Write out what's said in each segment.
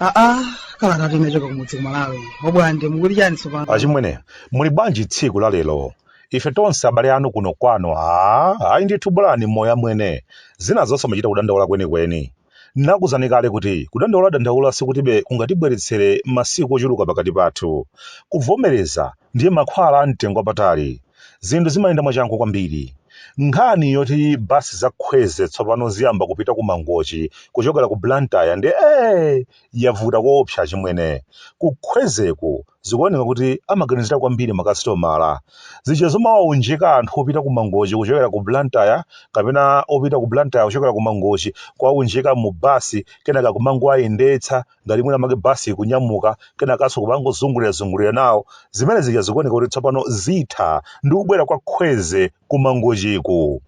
aa kalata inachoka kumudzi kumalawi o Bwande mukuti chani tsopano achimwene muli bwanji tsiku la lero ife tonse abale anu kuno kwanu aa ayi ndithu bolani moyo amwene zina zonse muchita kudandaula kwenikweni N'nakuuzani kale kuti kudandauladandaula sikuti kungatibweretsere masiku ochuluka pakati pathu. Kuvomereza ndiye mankhwala a mtengo wapatali. Zinthu zimayenda mwachangu kwambiri. Nkhani yoti basi za Kwezy tsopano ziyamba kupita ku Mangochi kuchokera ku Blantyre ndiye ee! yavuta koopsa achimwene. Ku Kwezyku zikuoneka kuti amaganizira kwambiri makasitomala. Zija zomawaunjika anthu opita ku Mangochi kuchokera ku Blantyre kapena opita ku Blantyre kuchokera ku Mangochi kuwaunjika mu basi kenaka kumangowayendetsa ngati mwina make basi ikunyamuka kenakanso kumangozungulirazungulira nawo. Zimene zija zikuoneka kuti tsopano zitha ndi kubwera kwa Kwezy ku Mangochiku.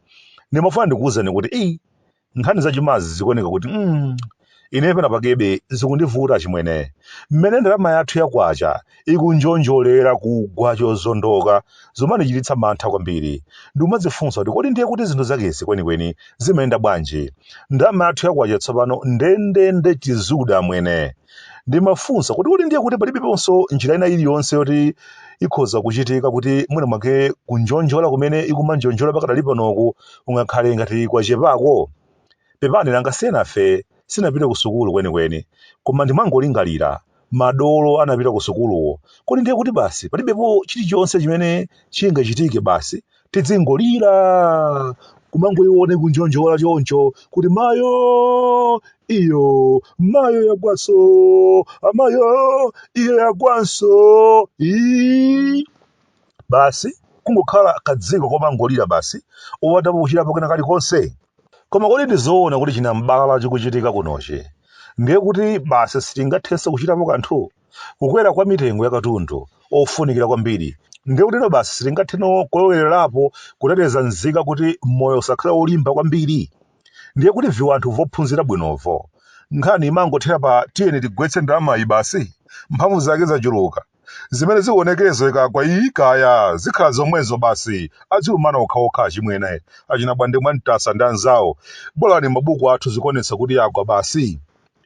Ndimafuna ndikuwuzeni kuti ii nkhani zachumazi zikuoneka kuti mm, ine pena pakebe zikundivuta chimwene mmene ndalama yathu ya kwacha ikunjonjolera kugwa chozondoka zumandichititsa mantha kwambiri ndikumadzifunsa kuti kodi ndiye kuti zinthu zakezi kwenikweni zimayenda bwanji ndalama yathu ya kwacha tsopano ndendende chizude amwene ndimafunsa kuti kodi ndiye kuti palibeponso njira ina iliyonse yoti ikhoza kuchitika kuti mwina mwake kunjonjola kumene ikumanjonjola pakadali panoku kungakhale ngati kwachepako pepani nanga si enafe sinapite ku sukulu kwenikweni koma ndimangolingalira madolo anapita ku sukuluwo kodi ndiye kuti basi palibepo chilichonse chimene chingachitike basi tidzingolira kumangoiona ikunjonjola choncho kuti mayo iyo mayo yagwanso amayo iyo yagwanso ii basi kungokhala kadziko komangolira basi osathapo kuchitapo kena kalikonse koma kodi ndizoona kuti chinambala chikuchitika kunochi ndiye kuti basi sitingathenso kuchitapo kanthu Kukwera kwa mitengo ya katundu ofunikira kwambiri ndiye kutino basi sitingatheno kulowererapo kuteteza nzika kuti moyo usakhale wolimba kwambiri? Ndiye kuti viwanthu vophunzira bwinovo nkhani imangothera pa tiyeni tigwetse ndalamayi basi? Mphamvu zake zachuluka. Zimene zionekezo ikagwa iyi kaya zikhala zomwezo basi adzilumana okhaokha achimwene, achina Bwande Mwantasa ndi anzawo. Bolani mabuku athu zikuonetsa kuti yagwa basi.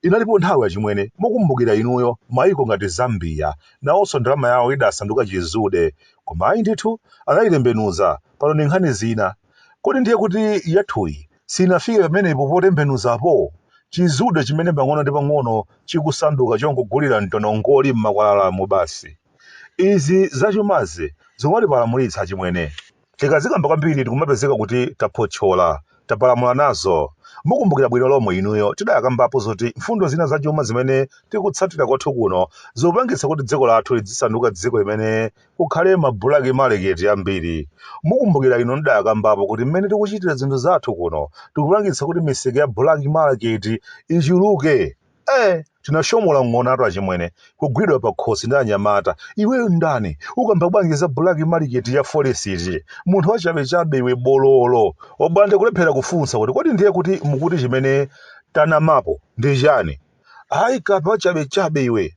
Inalipo nthawi achimwene mukumbukira inuyo maiko ngati Zambia nawonso ndalama yawo idasanduka chizude koma ayi ndithu anayitembenuza pano ndi nkhani zina kodi ndiye kuti yathuyi siinafike pamenepo potembenuzapo chizude chimene pang'ono ndi pang'ono chikusanduka chongogulira mtonongoli m'makwalalamu basi izi zachumazi zikungatipalamulitsa achimwene. tikazikamba kwambiri tikumapezeka kuti taphotchola, tapalamula nazo. Mukumbukira bwino lomwe inuyo tidakambapo zoti mfundo zina zachuma zimene tikutsatira kwathu kuno zikupangitsa kuti dziko lathu lidzisanduka dziko limene kukhale mabulaki maleketi ambiri. Mukumbukira inu tidakambapo kuti mmene tikuchitira zinthu zathu kuno tikupangitsa kuti misika ya bulaki maleketi ichuluke. Eh, tinashomola ng'onatu achimwene, kugwidwa pakhosi ndi anyamata. Iweyo ndani? Ukamba bwanji za bulaki maleketi ya folesiti? Munthu wachabechabe iwe bololo. Wabwande kulephera kufunsa kuti kodi ndiye kuti mukuti chimene tanamapo ndi chani? Ayi kape wachabechabe iwe.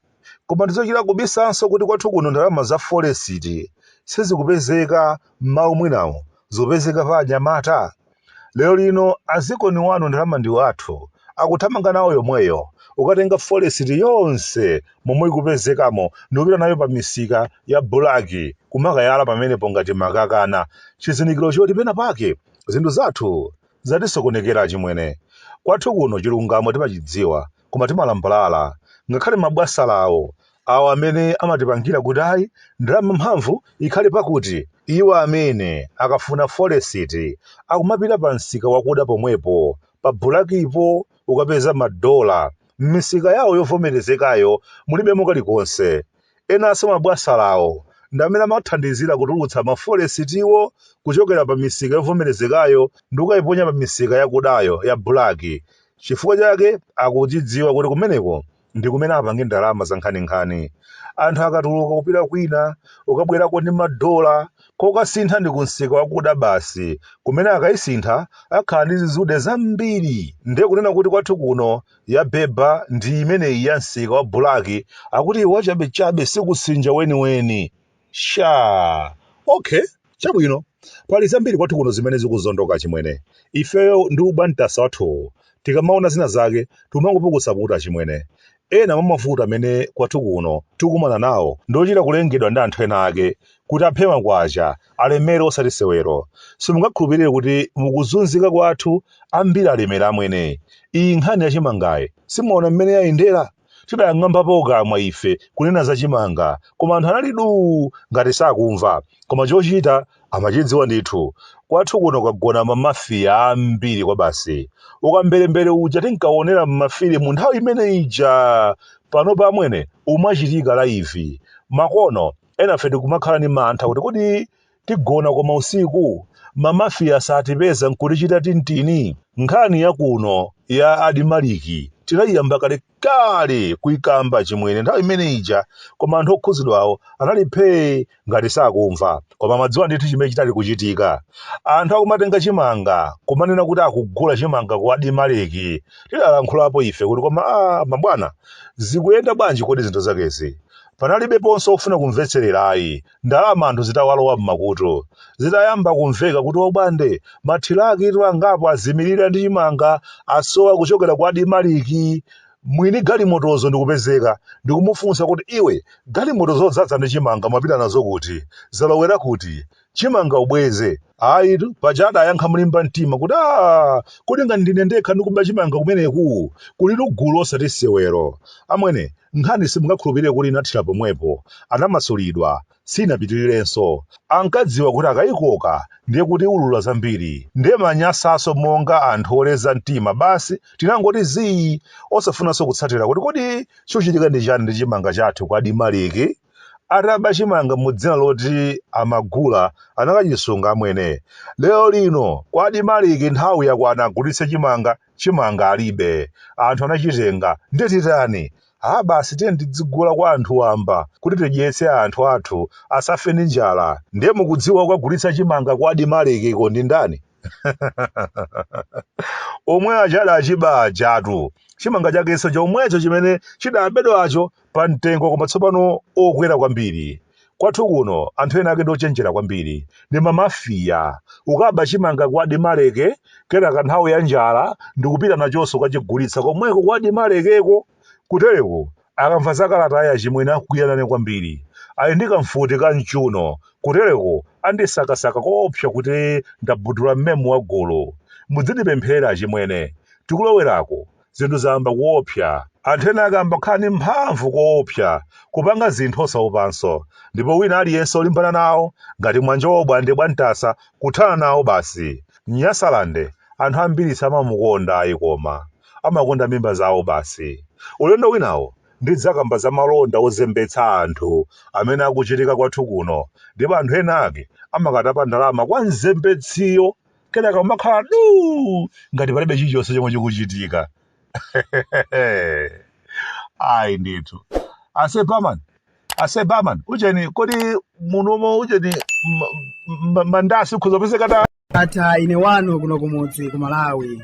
Koma ndizochita kubisanso kuti kwathu kuno ndalama za folesiti sizikupezeka mmau mwinamu zikupezeka pa anyamata? Lero lino adzikoli wa ndalama ndi wathu akuthamanga nawo yomweyo kukatenga folesiti yonse momwe ikupezekamo ndikupita nayo pa misika ya bulaki kumakayala pamenepo ngati makakana chizindikiro choti pena pake zinthu zathu zatisokonekera achimwene. Kwathu kuno chilungamo timachidziwa. koma timalambalala ngakhale mabwasalawo awa amene amatipangira kuti ayi ndalama mphamvu ikhale pakuti iwo amene akafuna folesiti akumapita pa msika wakuda pomwepo pa bulakipo kukapeza madola m'misika yawo yovomerezekayo mulibemo kalikonse Enanso mabwasalawo ndi amene amathandizira kutulutsa mafolesitiwo kuchokera pamisika yovomerezekayo ndi kukaiponya pamisika yakudayo, yabulaki. Chifukwa chake akuchidziwa kuti kumeneko ndi kumene apange ndalama zankhaninkhani. Anthu akatuluka kupita kwina, ukabwerako ndi madola, kokasintha ndi kumsika wakuda basi, kumene akaisintha akhala ndi zizude zambiri. Ndiye kunena kuti kwathu kuno yabeba ndi imeneyi ya msika wa bulaki akuti wachabechabe sikusinja weniweni shaa okay chabwino pali zambiri kwathu kuno zimene zikuzondoka chimwene ifeyo ndi ubwantasa wathuwu tikamaona zina zake timangopukusa mutu achimwene ena mwa mavuto amene kwathu kuno tikumana nawo ndiochita kulengedwa ndi anthu ena ake kuti aphe makwacha alemere osati sewero. Simungakhulupirire kuti mukuzunzika kwathu ambiri alemera amwene. Iyi nkhani ya chimangayi simuona mmene yayendera? Tidang'ambapo kamwa ife kunena za chimanga koma anthu anali duu ngati sakumva. Koma chochita amachidziwa ndithu. Kwathu kuno kwagona mamafiya ambiri kwabasi. Ukamberembere uja tinkaonera m'mafilimu nthawi imene ija! Panopa amwene umachitika laivi. Makono Enafe tikumakhala ndi mantha kuti kodi tigona koma usiku? Mamafiya satipeza n'kutichita tintini? Nkhani ya kuno ya Adimaliki tinaiyamba kalekale kuikamba achimwene nthawi imene ija koma anthu okhudzidwawo anali phee ngati sakumva. Koma amadziwa ndithu chimene chinali kuchitika. Anthu akumatenga chimanga kumanena kuti akugula chimanga ku Adimaliki. Tidalankhulapo ife kuti koma aa mabwana zikuyenda bwanji kodi zinthu zakezi? Panalibeponso wofuna kumvetserera ayi, ndalama anthu zitawalowa m'makutu. Zitayamba kumveka kuti wobwande, mathirakitu angapo azimirira ndi chimanga, asowa kuchokera ku Adimaliki, mwini galimotozo ndikupezeka, ndikumufunsa kuti, Iwe, galimoto zodzaza ndi chimanga mwapita nazo kuti? Zalowera kuti? Chimanga ubweze. Ayitu, paja adayankha molimba mtima kuti aa, kodi ngati ndine ndekha ndikuba chimanga kumeneku? Kulitu gulu osati sewero. Amwene, nkhani simungakhulupirire kuti inathera pomwepo. Anamasulidwa. Sinapitirirenso. Ankadziwa kuti akaikoka ndiye kuti iulula zambiri. Ndiye manyasanso monga anthu oleza mtima basi tinangoti zii osafunanso kutsatira kuti kodi chochitika ndi chani ndi chimanga chathu ku Adimaliki? ataba chimanga mu dzina loti amagula anakachisunga amwene lero lino ku adimaliki nthawi yakwana agulitse chimanga chimanga alibe anthu anachitenga ndiye titani ha basi tiyeni tidzigula kwa anthu wamba kuti tidyetse anthu athu asafe ndi njala ndiye mukudziwa kukagulitsa chimanga ku adimalikiko ndi ndani omwe aja adachiba ajatu chimanga chakenso chomwecho chimene chidabedwacho pa mtengo koma tsopano okwera kwambiri kwathu kuno anthu ena ake ndi ochenjera kwambiri ndi mamafiya ukaba chimanga ku adimaliki kenaka nthawi ya njala ndikupita nachonso kukachigulitsa komweko ku adimalikiko kutereko akamva za kalatayi achimwene akwiya nane kwambiri ali ndi kamfuti ka mchuno kutereko andisakasaka koopsa kuti ndabudula mmemu wa gulu mudzindipempherera achimwene tikulowerako zinthu zayamba kuopsa. Anthu enaake ayamba kukhala ndi mphamvu koopsa, kupanga zinthu osaopanso, ndipo wina aliyense olimbana nawo, ngati Mwanjawo Bwande bwa Mtasa, kuthana nawo basi. Nyasalande anthu ambiri samamukonda ayi koma amakonda mimba zawo basi. Ulendo winawo ndidzakamba za malonda ozembetsa anthu amene akuchitika kwathu kuno ndipo anthu ena ake amakatapa ndalama kwa mzembetsiyo. kenaka kumakhala duu ngati palibe chilichonse chomwe chikuchitika ayi ndithu ase barman ase barman ujeni kodi munomo ujeni m- m- m- mandasi akhoza kupezeka ta ata ine wanu kuno kumudzi ku malawi